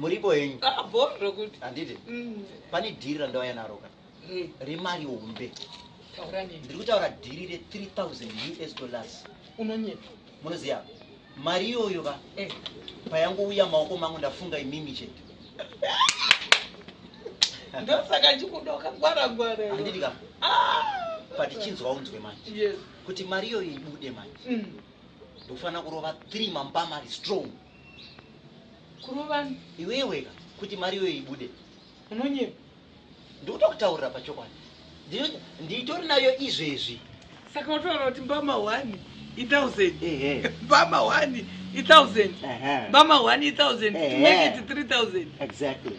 muripo henyu rokuti handiti mm. pane dhiri randauya naro ka mm. remari hombe ndiri kutaura dhiri re 3000 us dollars unonyepa munoziva mari iyoyo ka eh. payangouya maoko mangu ndafunga imimi chete ndosaka chikudoka gwara gwara handiti ka ah! patichinzwa unzwe manje kuti mari iyoyo ibude manje mm. ndofanira kurova three mambama ari strong kurova iweweka kuti mari iyoyo ibude unonyepa ndikuda kutaurira pachokwadi nditori nayo izvezvi saka utoona kuti mbama one ithousand mbama one ithousand mbama one ithousand to make it three thousand exactly